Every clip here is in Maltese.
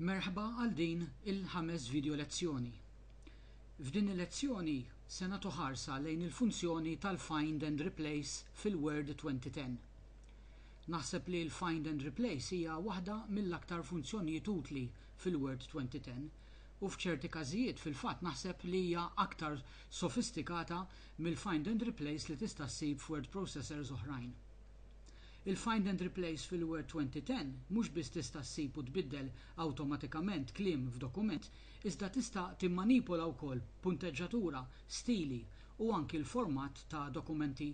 Merħba għal din il-ħames video lezzjoni. F'din il-lezzjoni se nagħtu ħarsa lejn il-funzjoni tal-Find and Replace fil-Word 2010. Naħseb li l-Find and Replace hija waħda mill-aktar funzjonijiet utli fil-Word 2010 u f'ċerti każijiet fil-fatt naħseb li hija aktar sofistikata mill-Find and Replace li tista' ssib f'word processors oħrajn. Il-Find and Replace fil-Word 2010 mhux biss tista' ssib u tbiddel awtomatikament kliem f'dokument, iżda tista' timmanipola wkoll punteġġatura, stili, u anki l-format ta' dokumenti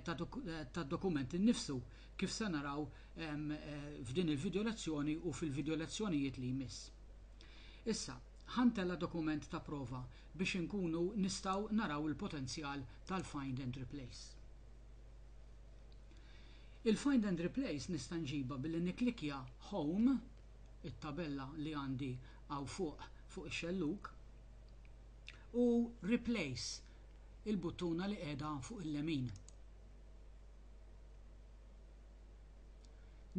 tad-dokument innifsu, kif se naraw f'din il-video lezzjoni u fil-video lezzjonijiet li jmiss. Issa, ħa ntella' dokument ta' prova biex inkunu nistgħu naraw il-potenzjal tal-Find and Replace. Il-find and replace nista' nġibha billi nikklikkja Home, it-tabella li għandi hawn fuq fuq ix-xellug, u Replace, il-buttuna li qiegħda hawn fuq il-lemin.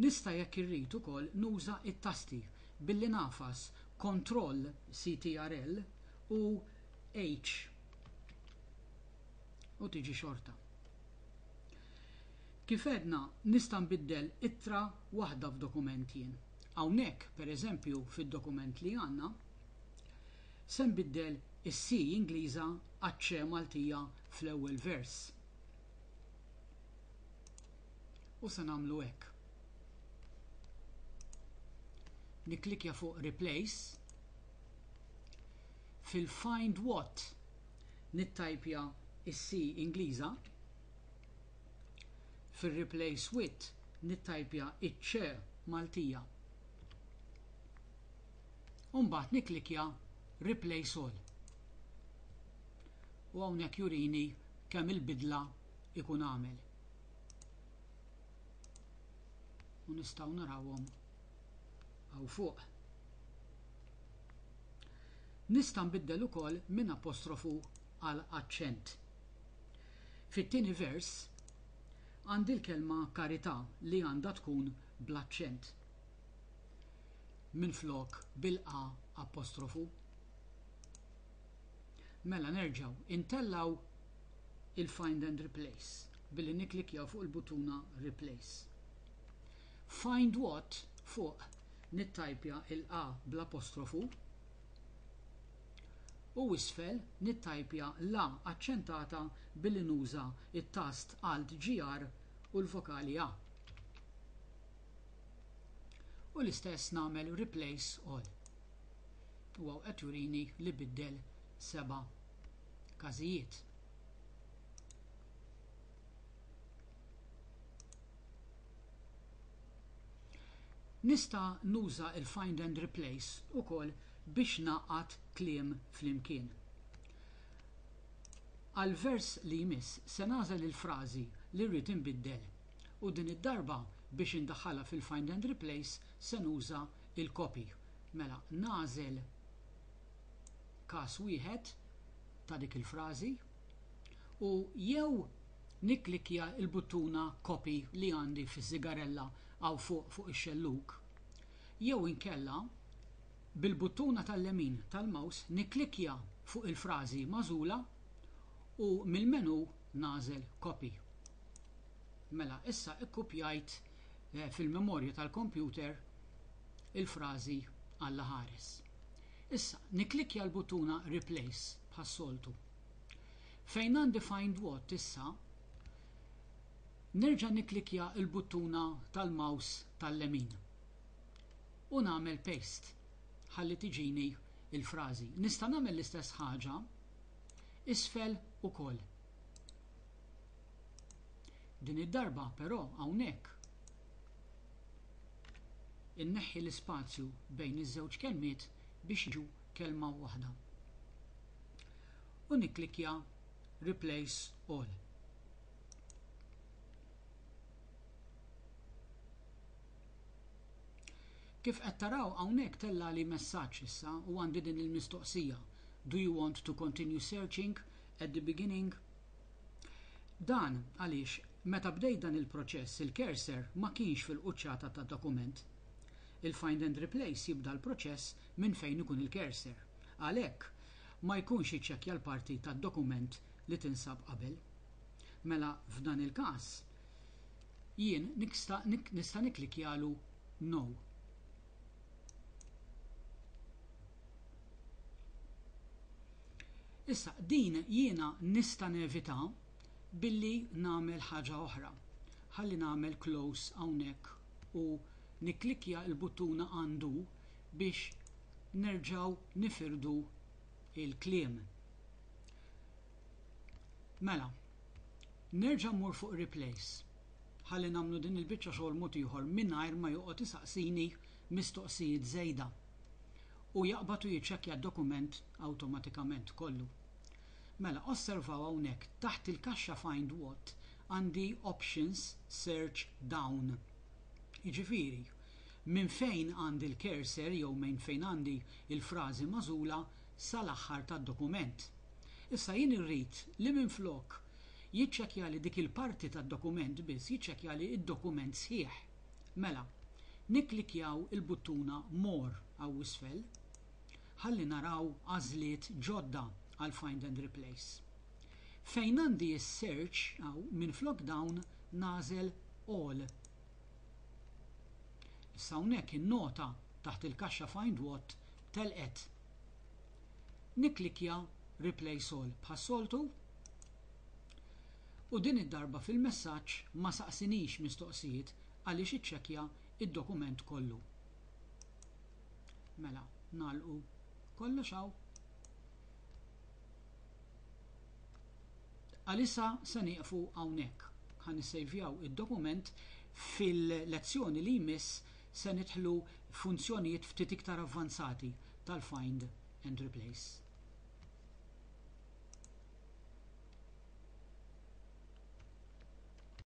Nista' jekk irrid ukoll nuża t-tasti billi nagħfas Kontroll CTRL u H. u tiġi xorta. Kif għedna, nista' nbiddel ittra waħda f'dokument jien. Hawnhekk, pereżempju, fid-dokument li għandna, se nbiddel is-C Ingliża għaċ-C Maltija fl-ewwel vers. U se nagħmlu hekk. Nikklikja fuq Replace fil-Find What nittajpja s-C Ingliża, fir-replace with nittajpja ċ-C Maltija u mbagħad nikklikkja replace all. U hawnhekk jurini kemm il-bidla jkun għamel. U nistgħu narawhom hawn fuq. Nista' nbiddel ukoll minn apostrofu għal aċċent. Fit-tieni vers għandi l-kelma karità li għandha tkun bl-aċċent minflok bil-a apostrofu. Mela nerġgħu intellgħu il-Find and Replace billi nikklikkjaw fuq il-buttuna Replace. Find what, fuq, nittajpja l-a bl-apostrofu, u isfel nittajpja l-a aċċentata billi nuża t-tast Alt GR u l-vokali a. U l-istess nagħmel replace all. U hawn qed jurini li biddel seba' każijiet. Nista' nuża l-find and replace ukoll biex ngħaqqad kliem flimkien. Għall-vers li jmiss se nagħżel il-frażi li rrid inbiddel u din id-darba biex indaħħalha fil-find and replace se nuża l-copy. Mela nagħżel każ wieħed ta' dik il-frażi u jew Nikklikkja l-buttuna Copy li għandi fiż-żigarella hawn fuq fuq ix-xellug, jew inkella bil-buttuna tal-lemin tal-mouse nikklikkja fuq il-frażi magħżula u mill-menu nagħżel Copy. Mela issa kkupjajt fil-memorja tal-kompjuter il-frażi Alla ħares. Issa nikklikkja l-buttuna Replace bħas-soltu. Fejn għandi Find What issa, nerġa' nikklikkja l-buttuna tal-mouse tal-lemin u nagħmel Paste ħalli tiġini l-frażi. Nista' nagħmel l-istess ħaġa isfel ukoll. Din id-darba però hawnhekk inneħħi l-ispazju bejn iż-żewġ kelmiet biex jiġu kelma waħda. u nikklikkja Replace All. Kif qed taraw hawnhekk tellagħli messaġġ issa u għandi din il-mistoqsija, Do you want to continue searching at the beginning? Dan għaliex meta bdejt dan il-proċess il-cursor ma kienx fil-quċċata tad-dokument. Il-Find and Replace jibda l-proċess minn fejn ikun il-cursor. Għalhekk, ma jkunx iċċekkja l-parti tad-dokument li tinsab qabel. Mela f'dan il-każ, jien niksta nista' nikklikkjalu No. Issa, din jiena nista' nevitha billi nagħmel ħaġa oħra. Ħalli nagħmel close hawnhekk u nikklikkja l-buttuna Undo biex nerġgħu nifirdu l-kliem. Mela, nerġa' mmur fuq replace ħalli nagħmlu din il-biċċa xogħol mod ieħor mingħajr ma joqgħod isaqsini mistoqsijiet żejda u jaqbad u jiċċekkja d-dokument awtomatikament kollu. Mela, osservaw hawnhekk, taħt il-kaxxa Find What għandi Options Search Down. Jiġifieri, Minn fejn għandi l-cursor jew minn fejn għandi l-frażi magħżula sal-aħħar tad-dokument. Issa jien irrid li minflok jiċċekkjali dik il-parti tad-dokument biss jiċċekkjali d-dokument sħiħ. Mela, nikklikkjaw il-buttuna More hawn isfel ħalli naraw għażliet ġodda għal Find and Replace. Fejn għandi s-search hawn minflok dawn nagħżel All Issa hawnhekk in-nota taħt il-kaxxa Find What telqet. Nikklikkja Replace All bħas-soltu u din id-darba fil-messaġġ ma saqsinix mistoqsijiet għaliex iċċekkja d-dokument kollu. Mela, nagħlqu kollox hawn. Għalissa se nieqfu hawnhekk. Ħa nissejvjaw id-dokument, fil-lezzjoni li jmiss se nidħlu f'funzjonijiet ftit iktar avvanzati tal-find and replace.